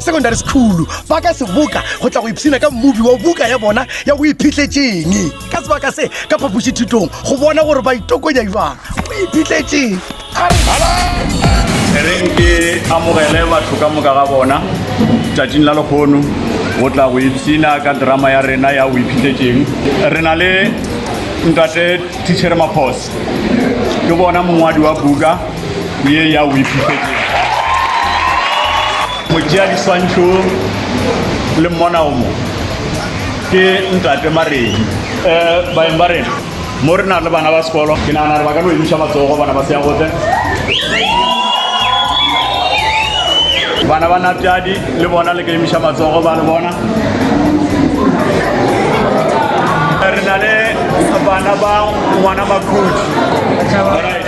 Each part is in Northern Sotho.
secondary school ba ka seboka go tla go ipshina ka mmobi wa buka ya bona ya go iphitletseng ka sebaka se ka phapošithutong go bona gore ba itokonya jwang go iphitletseng reng ke amogele batho ka moka ga bona tšatšing la lekgono go tla go ipshina ka drama ya rena ya go iphitletseng re na le ntate tichere maphosa ke bona mongwadi wa buka ye ya wipifetšeng go tšea diswantšho le mmona o mo ke ntate maredi um eh, baeng ba rena mo re na le bana ba sekolo ke nagana gore ba ka no emiša matsogo bana ba seagote bana ba napjadi le bona le ka emiša matsogo ba le bona re na le bana ba ngwana makhudi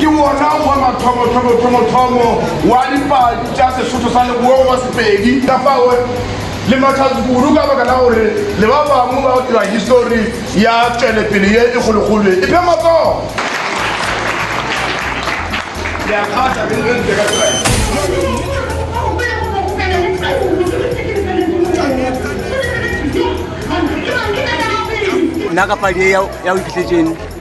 Ke wona wa mathomothomothomothhomo wa dipadi tša Sesotho sa Leboa wa Sepedi. Ka fao le makgazu kudu ka baka la gore le ba bangwe ba dira histori ya tšwelepele ye e kgolokgolo ye. Iphe matsogo! Le a kgahla ge le ntle ka tsela ye. Nna ka padi ye ya go iphihletseng.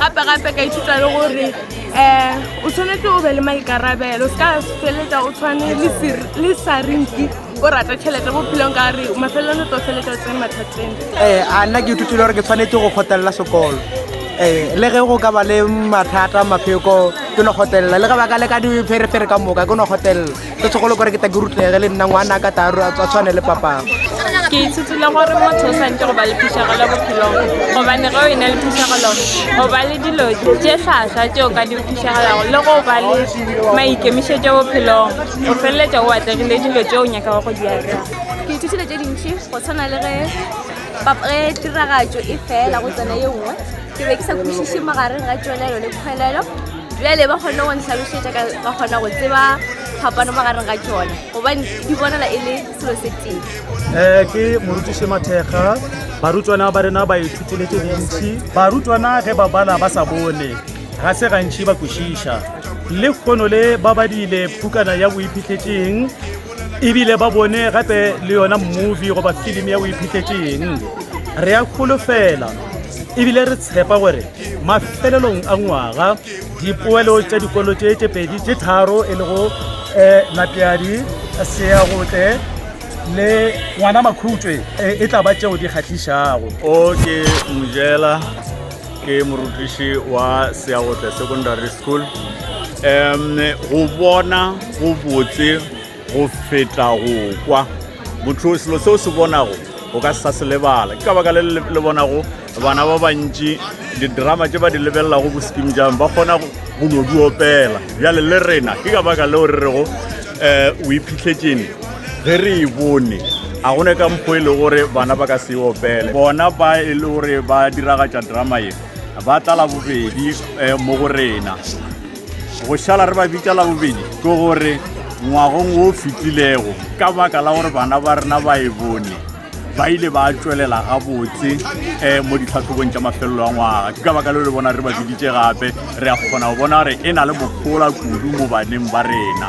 gape gape ka ithuta le gore um o tshwanetse o be le maikarabelo se ka feletsa o tshwane le sarinki o rata tšhelete mo phelong ka re mafelelong o tlo feletsa o tsene mathateng um eh, a nna ke ithutile gore ke tshwanetse go kgotelela sekolo um le ge go ka ba le mathata mapheko ke no kgotelela le ge ba ka leka dipherefere ka moka ke no kgotelela se segolo kore ke ta ke rutlege le nna ngwana ka tla a tshwane le papago ke ithutile gore motho o santse go ba le phišegelo bophelong gobane ge o e na le phišegelo go ba le dilo tše tlhaswa tše o ka di phišegelago le go ba le maikemišetšo bophelong o feleletša o atlegile dilo tše o nyakago go di atlega ke ithutile tše dintšhi go tshwana le ge tiragatšo e fela go tsena ye nngwe ke be ke sa kwešiše magareng ga tšwelelo le kgwelelo bjale ba kgonne go ntlhalošetša ka ba kgona go tseba phapano magareng ga tšona gobane di bonala e le selo se tee um eh, ke morutiše mathekga barutwana ba rena ba ithutile tse dintši barutwana ge ba bala ba sa bone ga se gantši ba kwešiša le kgono le ba badile pukana ya boiphitlhetseng ebile ba bone gape le yona movie goba filimi ya boiphitlhetseng re ya kgolofela ebile re tshepa gore mafelelong a ngwaga dipoelo tša dikolo tše tše pedi tše tharo e lego um eh, lapeadi seagotle le ngwana makhutswe eh, e tla ba tšeo di kgatlhišago o ke mojela ke morutiši wa seagotle secondary school um go bona go botse Go feta go kwa. Motho o selo se o se bonago o ka se sa se lebala. Ke ka baka le le bonago bana ba bantši didrama tše ba di lebelelago bosiking jang ba kgona go no di opela. Bjale le rena ke ka baka leo re rego um o iphitlhetšene ge re e bone a gone ka mpo e le gore bana ba ka se e opele bona ba e le gore ba diragatša drama ye ba tlala bobedi um mo go rena Go šala re ba bitša la bobedi ke gore ngwagong wo fetilego ka baka la gore bana ba rena ba e bone ba ile ba tswelela gabotse um mo ditlhatlhobong tša mafelelo a ngwaga ke ka baka leo le bona re ba biditše gape re a kgona go bona gore e na le mogola kudu mo baneng ba rena